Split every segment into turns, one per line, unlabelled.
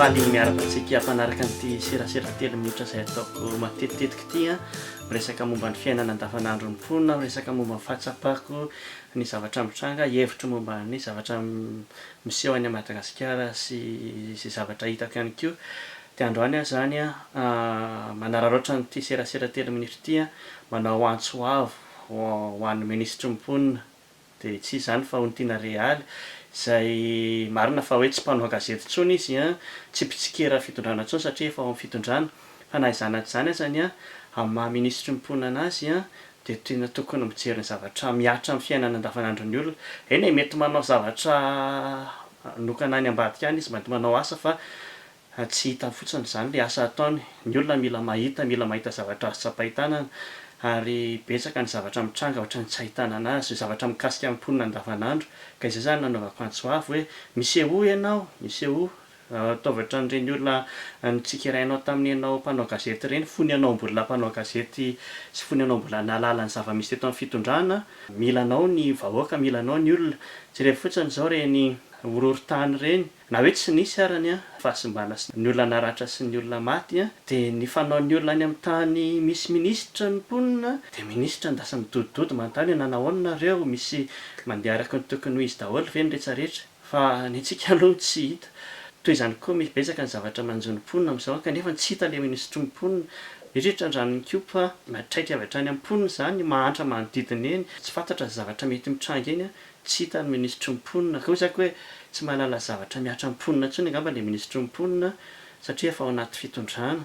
Fady ny miaraka antsika hampanaraka an'ity serasera telo minitra izay ataoko matetitetika ity a. Miresaka momba ny fiainana andavanandron'ny mponina, miresaka momba ny fahatsapako ny zavatra mitranga, hevitro momba ny zavatra miseho any Madagasikara sy izay zavatra hitako ihany koa. Dia androany aho izany manararaotra an'ity serasera telo minitra ity manao antso avo ho an'ny minisitry ny mponina. Dia tsy izany fa ony tiana Realy, izay marina fa hoe tsy mpanao gazety intsony izy, tsy mpitsikera fitondrana intsony satria efa ao amin'ny fitondrana, fa na izany na tsy izany azany, amin'ny maha minisitry ny mponina anazy, dia tena tokony mijery ny zavatra mihatra amin'ny fiainana andavanandron'ny olona. Eny e, mety manao zavatra manokana any ambadika any izy, mety manao asa fa Fa tsy hitany fotsiny izany ilay asa ataony. Ny olona mila mahita, mila mahita zavatra azo tsapain-tanana, ary betsaka ny zavatra mitranga ohatran'ny tsy ahitanana azy, zavatra mikasika ny mponina andavanandro. Ka izay izany nanaovako antso avo hoe, Misehoa ianao! Misehoa! Ataovy ohatran'ireny olona notsikerainao tamin'ny ianao mpanao gazety ireny, fony ianao mbola mpanao gazety sy fony ianao mbola nahalala ny zava-misy teto amin'ny fitondrana. Mila anao ny vahoaka, mila anao ny olona. Jerevo fotsiny izao ireny horohorontany ireny. Na hoe tsy nisy ara ny fahasimbana sy ny olona naratra sy ny olona maty dia ny fanaon'ny olona any amin'ny tany misy minisitra ny mponina dia minisitra ndasa midodododo manontany hoe nanao aona nareo misy mandeha araka ny tokony ho izy daholo ve ny retsaretra fa ny antsika aloha no tsy hita toy izany koa misy betsaka ny zavatra manjo ny mponina amin'izao kanefa tsy hita ilay minisitry ny mponina indrindra eto Andranonikopa fa miatraika avy hatrany amin'ny mponina izany mahantra manodidina eny tsy fantatra ny zavatra mety mitranga eny Tsy hita ny minisitry ny mponina. Koa isaky hoe tsy mahalala zavatra mihatra amin'ny mponina intsony angamba ilay minisitry ny mponina satria efa ao anaty fitondrana.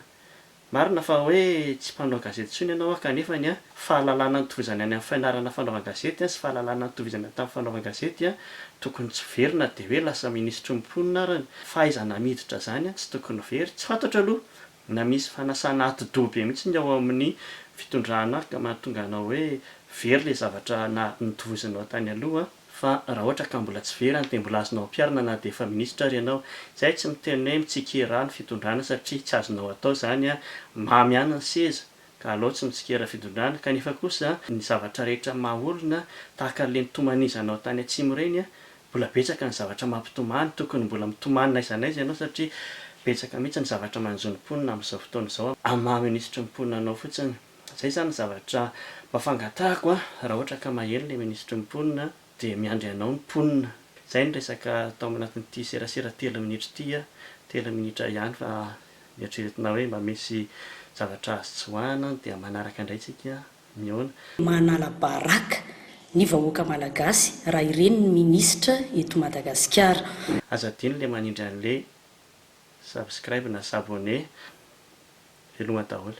Marina fa hoe tsy mpanao gazety intsony ianao an, kanefa ny an, fahalalana nitovizana any amin'ny fainarana fanaovan-gazety an, sy fahalalana nitovizana any tamin'ny fanaovan-gazety an, tokony tsy very na dia hoe lasa minisitry ny mponina arany. Fahaizana miditra izany an, tsy tokony very. Tsy fantatro aloha Na misy fanasana atidoha be mihitsy ny ao amin'ny fitondrana ary ka mahatonga anao hoe very ilay zavatra na notovozinao tany aloha fa raha ohatra ka mbola tsy very any dia mbola azonao ampiharina na dia efa minisitra ary ianao. Izay tsy miteny hoe mitsikera ny fitondrana satria tsy azonao atao izany, mamy ihany ny seza ka alao tsy mitsikera fitondrana, kanefa kosa ny zavatra rehetra maha olona tahaka ireny tomanizanao tany atsimo ireny, mbola betsaka ny zavatra mampitomany, tokony mbola mitomany n'aiza n'aiza ianao satria betsaka mihitsy ny zavatra manjo ny mponina amin'izao fotoana izao amin'ny maha minisitry ny mponina anao fotsiny, izay izany ny zavatra mba fangatahako raha ohatra ka maheno ilay minisitry ny mponina. Dia miandry anao ny mponina. Izay ny resaka tao anatin'ity serasera telo minitra ity. Telo minitra ihany fa eritreretina hoe mba misy zavatra azo tsoahina dia manaraka indray tsika mihaona. Manala
baraka ny vahoaka malagasy raha ireny ny ministra eto Madagasikara. Aza adino le
manindry anle subscribe na s'abonner. Veloma daholo.